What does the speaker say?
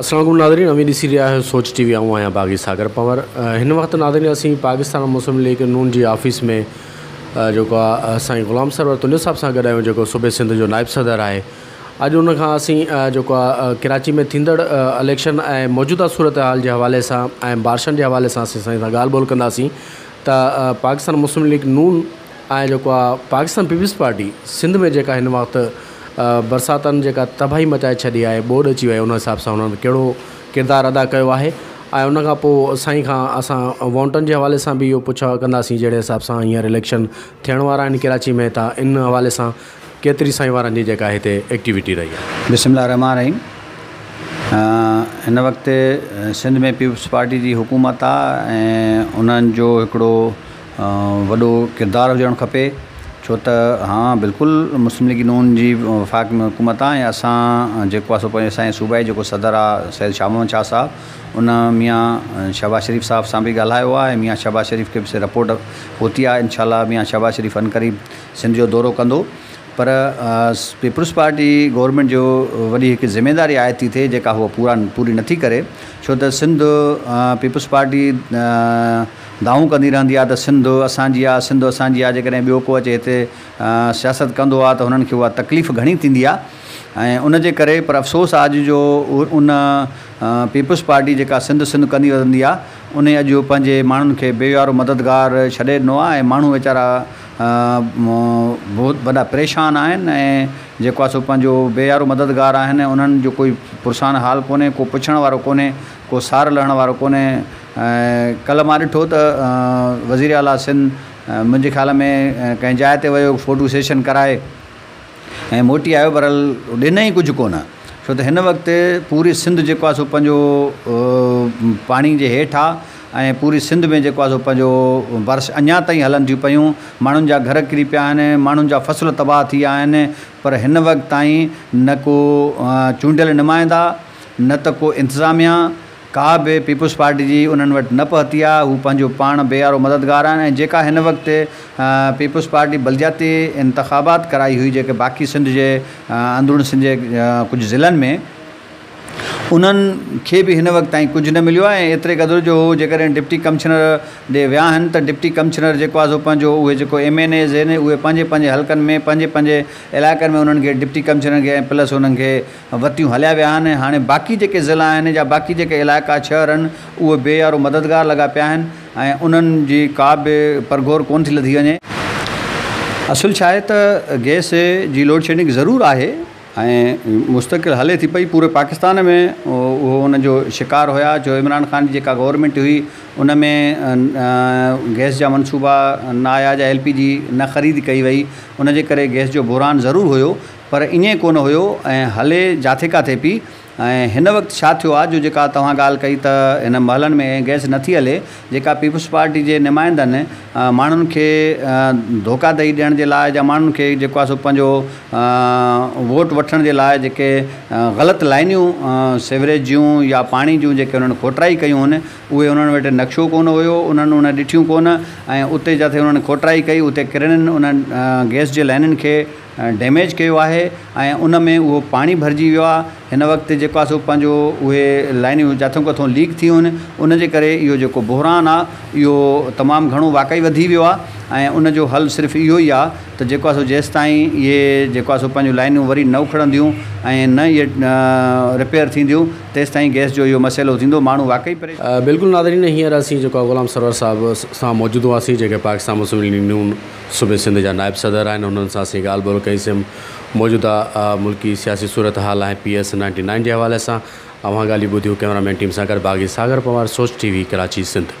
السلام عليڪم ناظرين اوهين ڏسي رهيا آهيو سوچ ٽي وي آئون آهيان باغي ساگر پنور هن وقت ناظرين اسين پاڪستان مسلم ليگ نون جي آفيس ۾ جيڪو آهي سائين غلام سرور تنيو صاحب سان گڏ آهيون جيڪو صوبي سنڌ جو نائب صدر آهي اڄ ان کان اسين جيڪو آ ڪراچي ۾ ٿيندڙ اليڪشن ۽ موجوده صورتحال جي حوالي سان ۽ بارشن جي حوالي سان اسين سائين سان ڳالهه ٻولهه ڪنداسين ته پاڪستان مسلم ليگ نون ۽ جيڪو آ پاڪستان پيپلز پارٽي سنڌ ۾ جيڪا هن وقت برساتن جيڪا تباهي مچائي ڇڏي آهي ٻوڏ اچي وئي ان حساب سان هنن ڪهڙو ڪردار ادا ڪيو آهي ۽ ان کان پوء سائين کان اسان وونٽن جي حوالي سان بي اهو پڇا ڪنداسين جهڙي حساب سان هينئر اليڪشن ٿيڻ وارا آهن ڪراچي ۾ ته ان حوالي سان ڪيتري سائين وارن جي جيڪا هتي ايڪٽيوٽي رهي آهي. بسم الله الرحمٰن الرحيم هن وقت سنڌ ۾ پيپلز پارٽي جي حڪومت آ ۽ انهن جو هڪڙو وڏو ڪردار هجڻ کپي ڇو ته ها بلڪل مسلم ليگ نون جي وفاق ۾ حڪومت آ ۽ اسان جيڪو آ سو پنهنجو اسان جي صوبائي جي جيڪو صدر آ سيد شاهه محمد شاهه صاحب ان ميان شهباز شريف صاحب سان به ڳالهايو آ ۽ ميان شهباز شريف کي به سي رپورٽ پهتي آ انشاء الله ميان شهباز شريف عنقريب سنڌ جو دورو ڪندو پر پيپلز پارٽي گورنمينٽ جو وڏي هڪ ذميواري عائد ٿي ٿئي جيڪا هو پورا پوري نٿي ڪري ڇو ته سنڌ پيپلز پارٽي دانهون ڪندي رهندي آهي ته سنڌ اسان جي آهي سنڌ اسان جي آهي جيڪڏهن ٻيو ڪو اچي هتي سياست ڪندو آهي ته هنن کي اها تڪليف گهڻي ٿيندي آهي ۽ ان جي ڪري پر افسوس آهي اڄ جو ان پيپلز پارٽي جيڪا سنڌ سنڌ ڪندي رهندي آهي انهي اڄ پنهنجي ماڻهن کي بي ويارو مددگار ڇڏي ڏنو آهي ۽ ماڻهو ويچارا بهت وڏا پريشان آهن ۽ جيڪو آهي سو پنهنجو بي يارو مددگار آهن ۽ انهن جو ڪوئي پرسان حال ڪونهي ڪو پڇڻ وارو ڪونهي ڪو سار لهڻ وارو ڪونهي ۽ ڪلهه مان ڏٺو ته وزيراعليٰ سنڌ منهنجي خيال ۾ ڪنهن جاء تي ويو فوٽو سيشن ڪرائي ۽ موٽي آيو پر ڏنئين ڪجهه ڪونه ڇو ته هن وقت پوري سنڌ جيڪو آهي سو پنهنجو پاڻي جي هيٺ آهي ۽ پوري سنڌ ۾ جيڪو آهي سو پنهنجو بارش اڃا تائين هلن ٿيون پيون ماڻهن جا گهر ڪري پيا آهن ماڻهن جا فصل تباهه ٿي ويا آهن پر هن وقت تائين نه ڪو چونڊيل نمائندا نه ته ڪو انتظاميا ڪا به پيپلز پارٽي جي انهن وٽ نه پهتي آهي، هو پنهنجو پاڻ بي آرو مددگار آهن ۽ جيڪا هن وقت پيپلز پارٽي بلدياتي انتخابات ڪرائي هئي جيڪي باقي سنڌ جي اندرون سنڌ جي ڪجهه ضلعن ۾ انهن کي به هن وقت تائين ڪجهه نه مليو آهي ۽ ايتري قدر جو هو جيڪڏهن ڊپٽي ڪمشنر ڏي ويا آهن ته ڊپٽي ڪمشنر جيڪو آهي سو پنهنجو اهي جيڪو ايم اين ايز اهي پنهنجي پنهنجي حلقن ۾ پنهنجي پنهنجي علائقن ۾ انهن کي ڊپٽي ڪمشنر کي ۽ پلس انهن کي وتيون هليا ويا آهن ۽ هاڻي باقي جيڪي ضلعا آهن يا باقي جيڪي علائقا شهر آهن اهي بي يارو مددگار لڳا پيا آهن ۽ انهن جي ڪا به پرگهور ڪونه ٿي لڌي وڃي. اصل ڇا آهي ته گئس جي لوڊشيڊنگ ضرور آهي ۽ مستقل هلي ٿي پئي پوري پاڪستان ۾ اهو ان جو شڪار هيا جو عمران خان جي جيڪا گورنمينٽ هئي ان ۾ گئس جا منصوبا نه آيا جا ايل پي جي نه خريد ڪئي وئي ان جي ڪري گئس جو بحران ضرور هيو پر ائين ڪونه هيو ۽ هلي جاٿي ڪاٿي پي ۽ هن وقت ڇا ٿيو آ جو جيڪا توهان ڳالهه ڪئي ته هن محلن ۾ گئس نٿي هلي جيڪا پيپلز پارٽي جي نمائندن ماڻهن کي ڌوڪا ڏئي ڏيڻ جي لاء جا ماڻهن کي جيڪو آ سو پنهنجو ووٽ وٺڻ جي لاء جيڪي غلط لائنيون سيوريج جون يا پاڻي جون جيڪي انهن کوٽرائي ڪيون هن اهي انهن وٽ نقشو ڪونه هيو انهن ان ڏٺيون ڪونه ۽ اتي جاٿي انهن کوٽرائي ڪئي اتي ڪرنن انهن گئس جي لائنن کي ڊيميج ڪيو آهي ۽ ان ۾ اهو پاڻي ڀرجي ويو آهي هن وقت جيڪو آهي سو پنهنجو اهي لائنيون جاٿو ڪٿو ليڪ ٿي ويون آهن ان جي ڪري اهو جيڪو بحران آهي اهو تمام گهڻو واقعي وڌي ويو آهي ۽ ان جو حل صرف اهو ئي آهي ته جيڪو آهي سو جيسين تائين اهي جيڪو آهي سو پنهنجو لائنيون وري نه اکڙنديون ۽ نه اهي رپيئر ٿينديون تيسين تائين گئس جو اهو مسئلو ٿيندو ماڻهو واقعي پريشان بلڪل ناظرين هينئر اسين جيڪو آهي غلام سرور صاحب سان موجود هئاسين جيڪي پاڪستان مسلم ليگ نون صوبي سنڌ جا نائب صدر آهن انهن سان اسين ڳالهه ٻولهه ڪئي سيم موجوده ملڪي سياسي صورتحال ۽ پي ايس نائنٽي نائن جي حوالي سان اوهان ڳالهيون ٻڌيون ڪئميرا مين ٽيم سان گڏ باغي ساگر پنوار سوچ ٽي وي ڪراچي سنڌ.